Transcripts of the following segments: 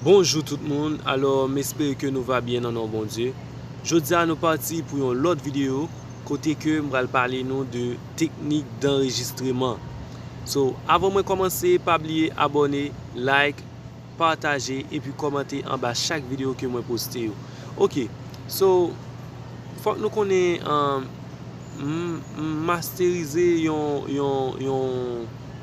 Bonjou tout moun, alò m espere ke nou va byen nan non Bondye. Jodi a nou pati pou yon lòt videyo kote ke m pral pale nou de teknik danrejistreman. So, avan mwen kòmanse pa bliye abòne, like, pataje epi kòmante anba chak videyo ke mwen poste yo. Ok, so fòk nou konnen m masterize yon.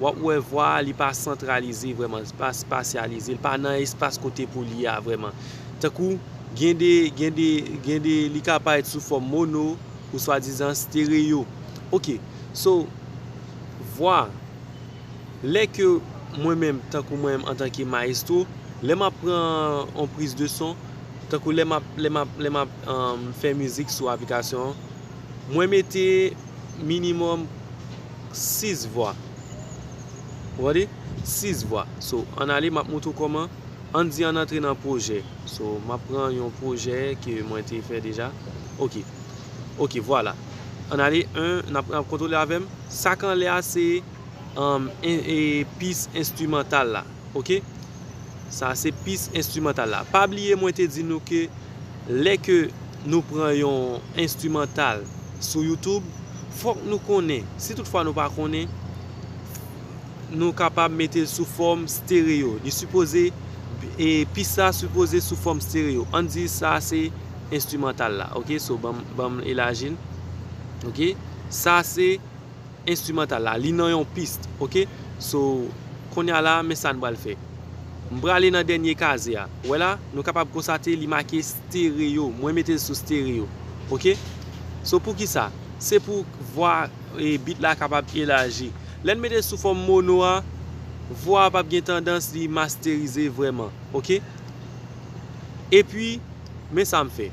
wap wè vwa a li pa santralize vrèman, li pa espasyalize, li pa nan espas kote pou li a vrèman. Tankou, gen de, gen de, gen de li ka parèt sou fòm mono ou swadizan stereo. Ok, so, vwa, lè ke mwen menm, tankou mwen menm antanke maestro, lè map pran yon priz de son, tankou lè map, lè map, lè map fè mizik sou aplikasyon an, mwen mete minimòm. 6 vwa ou gade 6 vwa so an ale map moutre w koman an di an antre nan projè so map pran yon projè ke mwen te fè deja ok ok vwala an ale 1 nap nap kontrole avèm sak anlè a se an e pis enstimantal la. Ok sa se pis enstrimantal la pa bliye mwen te di nou ke lè ke nou pran yon enstrimantal sou youtube fòk nou konnen si tout fwa nou pa konnen nou kapab metel sou fòm stereo li sipoze e pis sa sipoze sou fòm stereo ann di sa se enstrimantal la ok so banm elajil ok sa se. Instrumental la li nan yon piste ok so konnya la men sa n pral fè m prale nan dènye kaze a wè la nou kapab konsate li make stereo mwen mete l sou stereo ok so poukisa se pou vwa e bit la kapab elaji lè n mete l sou fòm mono a vwa a pap gen tandans li masterize vrèman ok epi men sa m fè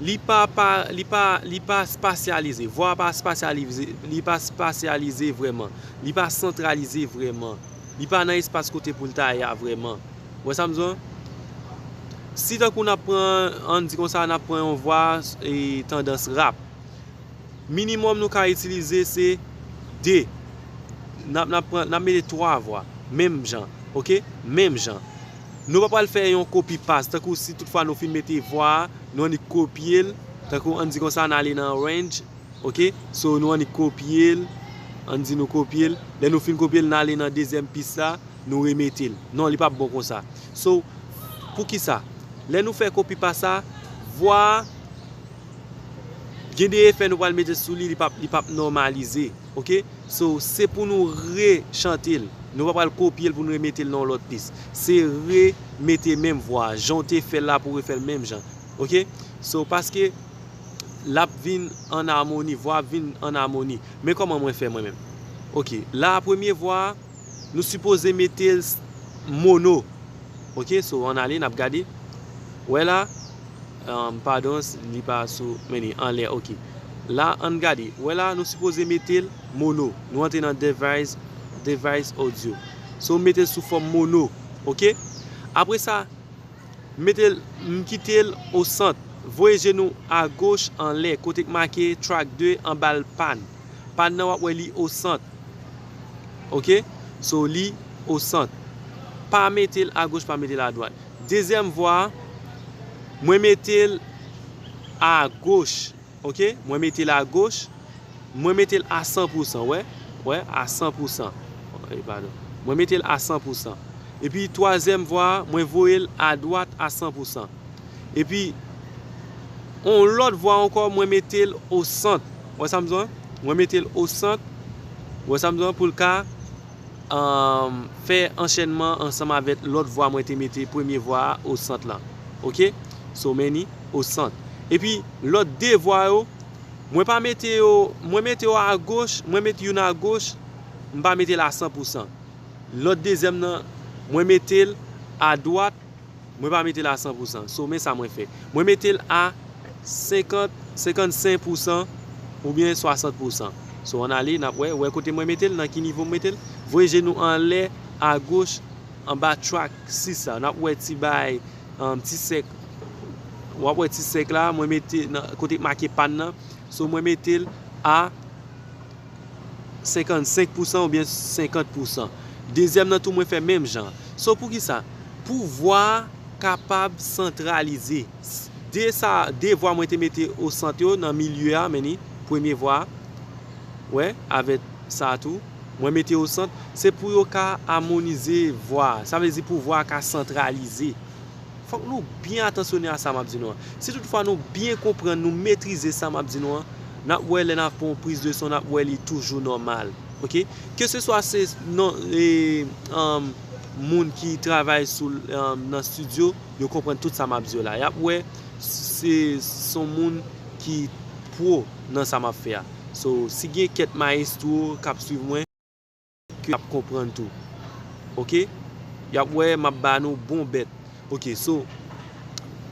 Li pa pa li pa li pa spasyalize. Vwa a pa spasyalize li pa spasyalize vrèman. Li pa santralize vrèman. Li pa nan espas kote pou l ta ye a vrèman. Ou wè sa m di w lan? Si tankou n ap pran an n di konsa n ap pran yon vwa e tandans rap. Minimòm nou ka itilize se 2. N ap n ap pran n ap mete 3 vwa menm jan. Ok? Menm jan. Nou pa pral fè yon kopi pas, tankou si tout fwa nou fin mete vwa a, nou annik kopye l, tankou ann di konsa n ale nan Range, ok, so nou annik kopye l, ann di nou kopye l, lè nou fin kopye l n ale nan dezyèm pis la, nou remete l, non li pap bon konsa. So, poukisa? Lè nou fè kopi pas sa, vwa a, gen de efè nou pral mete sou li, li pap nòmalize. Ok so se pou nou re chante l nou pa pral kopye l pou nou re mete l nan yon lòt pis se re mete menm vwa a jan w te fè l la pou w refè l menm jan ok so paske l ap vin an amoni vwa a ap vin an amoni men kòman mwen fè mwen menm ok la premye vwa a nou sipoze mete l mono ok so ann ale n ap gade wè la. Pardons li pa sou men li anlè ok la ann gade wè la nou sipoze metel mono nou antre nan device device audio so metel sou fòm mono ok apre sa metel m kitel o sant voye je nou a goch anlè kote k make track 2 anbal pan pan nan wap wè li o sant ok so li o sant pa metel a goch pa metel a dwat. Dezyèm vwa a mwen mete l a goch ok mwen mete l a goch mwen mete l a san pou san wè wè a san pou san e padon mwen mete l a san pou san epi twazyèm vwa a mwen voye l a dwat a san pou san epi on lòt vwa ankò mwen mete l osant wè sa m di w a mwen mete l osant wè sa m di w a pou l ka fè anchènman ansanm avèk lòt vwa mwen te mete premye vwa a o sant lan ok so many o sant epi lòt 2 vwa yo mwen pa mete yo mwen mete yo agoch mwen mete youn agoch m pa mete l a san pou san lòt dezyèm nan mwen mete l adwat Mwen pa mete l a 100 pousan. So men sa mwen fè. Mwen mete l a 50, 55 pousan oubyen 60 pousan. So an ale n ap wè. Wè kote mwen mete l? Nan ki nivo m mete l? Voye je nou anlè a goch anba track 6 la. N ap wè ti baay, ti sèk. W ap wè ti sèk la. Mwen mete kote k make pan nan. So mwen mete l a. 55 pousan ou byen 50 pousan dezyèm nan tou mwen fè menm jan so poukisa pou vwa kapab santralize de sa de vwa mwen te mete o sant yo nan milye a menni premye vwa wè avè sa tou mwen mete o sant se pou yo ka amonize vwa sa vle di pou vwa ka santralize. Fòk nou byen atansyone a sa m ap di nou an. Si tout fwa nou byen konprann, nou metrize sa m ap di nou an, n ap wè lè n ap fè yon priz de son, n ap wè li toujou nòmal. Ok. Ke se swa se nan moun ki travay sou nan stidyo, yo konprann tout sa m ap di yo la. Y ap wè se se yon moun ki pro nan sa m ap fè a. So, si gen kèt mayestwo k ap swiv mwen. ke yap konprann tou ok yap wè map ba nou bon bèt ok so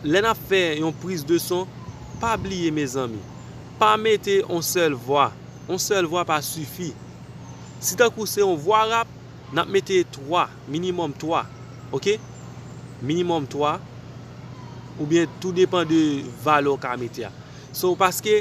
lè nap fè yon priz de son pa bliye mezanmi pa mete yon sèl vwa yon sèl vwa pa sifi si tankou se yon vwa rap nap mete 3 minimòm 3 ok minimòm 3 oubyen tou depan de valè ou ka mete a so paske.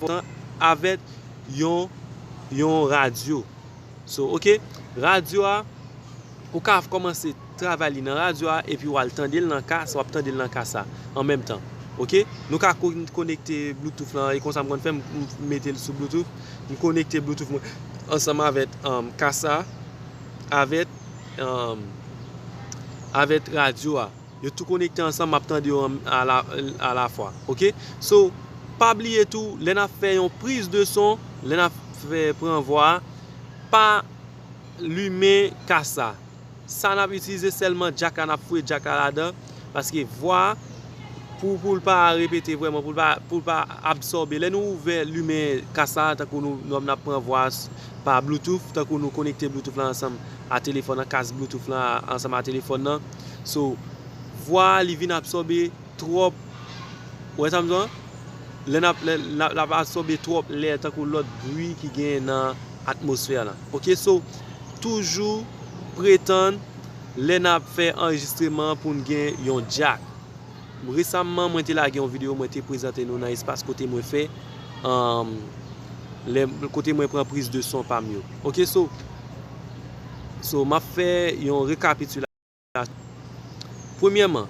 volan avèk yon yon radyo so ok radyo a ou ka kòmanse travay li nan radyo a epi wal tandel nan kas wap tandel nan kas la an menm tan ok nou ka konekte bloutouf lan e konsa m konn fè m metel sou bloutouf m konekte bloutouf mwen ansanm avèk kas la avèk avèk radyo a. Yo tou konekte ansanm map tande yo a la fwa ok so pa bliye tou lè nap fè yon priz de son lè nap fè pran vwa a pa limen kas la sa nap itilize sèlman jack la nap fouye jack la ladan paske vwa pou poul pa repete vrèman poul pa absòbe lè nou ouvè limen kas la tankou nou nap pran vwa pa bluetooth tankou nou konekte bluetooth la ansanm. a telefòn nan, kas bluetooth lan ansanm a telefòn nan, so vwa a li vin absòbe twòp, ou wè sa m di w lan? Lè nap lè lap absòbe twòp lè tankou lòt bri ki genyen nan atmosfè lan ok, so toujou pretann lè nap fè anrejistreman pou n gen yon jack. Resamman mwen te lage yon video mwen te prezante nou nan espas kote mwen fè lè kote mwen pran priz de son pam yo ok so so map fè yon rekapitilasyon premyèman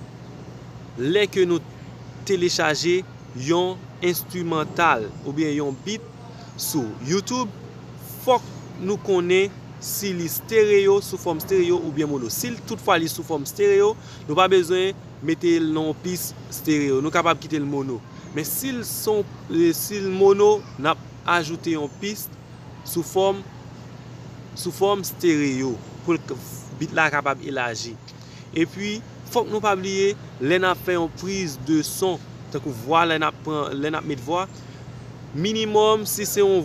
lè ke nou telechaje yon enstrimantal oubyen yon bit sou youtube fòk nou konnen si li stereo sou fòm stereo oubyen mono si tout fwa li sou fòm stereo nou pa bezwen mete l nan yon pis stereo. Nou kapab kite l mono. Men si l son, si l mono, n ap ajoute yon pis sou fòm, sou fòm stereo pou l k, bit la kapab elaji. Epi, fòk nou pa bliye, lè n ap fè yon priz de son, tankou vwa lè n ap pran, lè n ap met vwa, minimòm si se yon.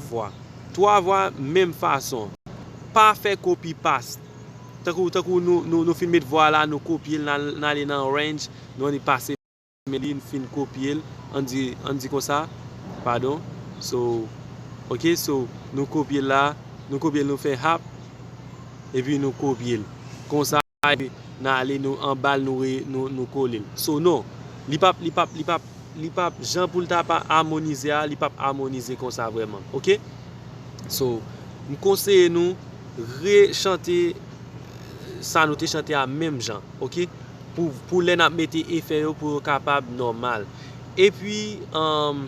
vwa. Twa vwa menm fason. Pa fè kopi past. Tankou tankou nou nou fin met vwa la nou kopye l n ale nan Arrange nou annik pase men li n fin kopye l an di an di konsa padon so ok so nou kopye l la nou kopye l nou fè hap epi nou kopye l konsa. Bay nan ale nou anbal nou kolel so non li pap li pap li pap li pap jan poul ta pa amonize a li pap amonize konsa vreman ok so m konseye nou re chante sa nou te chante a menm jan ok pou pou lè nap mete efè yo pou yo kapab nòmal epi humm.